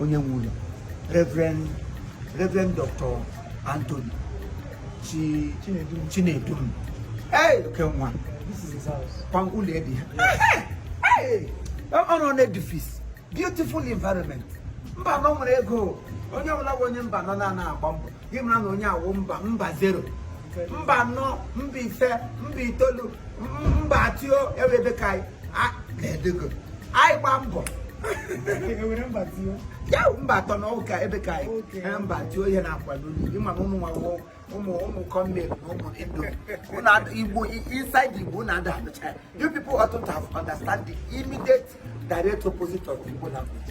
onye nwe ụlọ Reverend Reverend Dr. Anthony Chi Chinedum hey oke nwa kwa ụlọ edi ọ nọ n'edifice beautiful environment Mbano nwere ego onye ọbụla bụ onye Mbano na-ana agba mbọ gị mara na onye awụ mba mba zero mba anọ mba ise mba itoolu mba atọ ewe ebe ka anyị gba mbọ ya mba atọ na ọ wụ ka ebe ka anyị mba atọ ihe na-akwado ị ma na ụmụ nwawo ụmụ ụmụ kọmmel na ụmụ indo igbo inside igbo na ada abụcha you people ought to have understand the immediate direct opposite of igbo language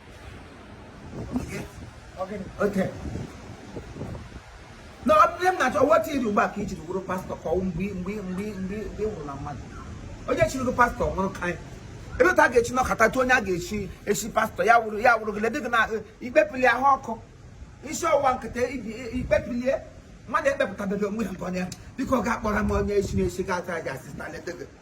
Okay. na ọ bụrụ m na-achọ weta iri ugbu a ka i jiri wụrụ pastọ ka ọ wụ mgbe nwụrụ na mmadụ onye chiri gị pastọ nwụrụ ka anyị ebe otu a ga-esi nọkọta tụọ onye a ga-echi echi pastọ ya wụrụ ya wụrụ gị lady gị na ikpepili ahụ ọkụ isi ọwụwa nkịta ibi ikpepilie mmadụ ekpepụtabeghị onwe ya nke onye biko ga-akpọrọ m onye isi na-esi ga-ata aja assistant lady gị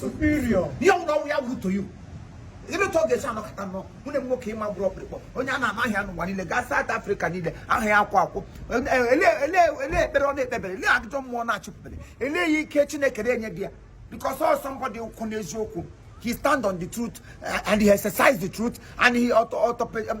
superior ihe ọbụla ọ wụ ya wụrụ to you ebe otu ọ ga-esi anọkọta nwanne m nwoke ị ma gbụrụ ọkpụrụkpụ onye a na-ama aha ya n'ụwa niile gaa South Africa niile aha ya akwụ akwụ ele ekpere ọ na-ekpebere ele ajụjụ mmụọ na-achụpụbere ele ya ike Chineke na-enye di ya because ọ wụ somebody kwụ n'eziokwu he stand on the truth uh, and he exercise the truth and he auto, auto, um,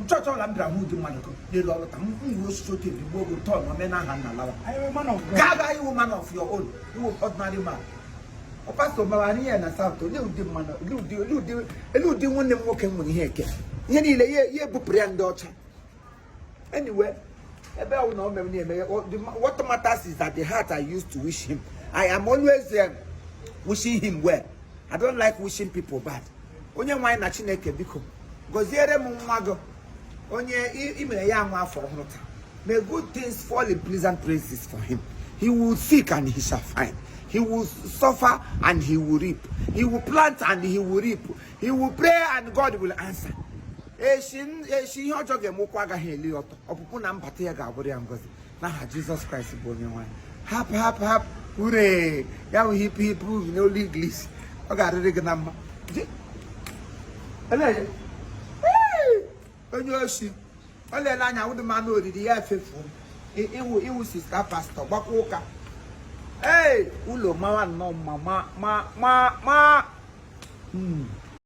n'chọọchị ọla m bịara hụ ụdị mmadụ n'elu ọrụ ka m nwere osisi otu ebi gbuo ogo tọn omenala nna lawa gaga ị wụ man of your own ị wụ ordinary man pastọ mara anyị ya na South olee ụdị mmadụ olee ụdị nwanne m nwoke nwere ihe eke ihe niile ya ebupụrụ ya ndị ọcha anyway ebe ahụ na ọ mere na-emeghe what matters is that the heart I used to wish him I am always um, wishing him well I don't like wishing people bad onye nwe anyị na Chineke biko gọziere m nwa gị onye i mere ya nwa afọ ọhụrụ taa may good things fall in pleasant places for him he will seek and he shall find he will suffer and he will reap he will plant and he will reap he will pray and God will answer eshi ihe ọjọọ ga-eme ụkwụ agaghị eli ọtọ ọpụpụ na mbata ya ga-abụrụ ya ngozi n'aha Jizọs Kraịst bụ onye nwe anyị hap hap hap hooray ya bụ hip hip n'olu English ọ ga-arịrị gị na mma onye oshi ọ lele anya wụdị mmanụ oriri ya efefuo ị wụ sista pastọ gbakwa ụka ee ụlọ mawa nnọọ mma ma ma ma ma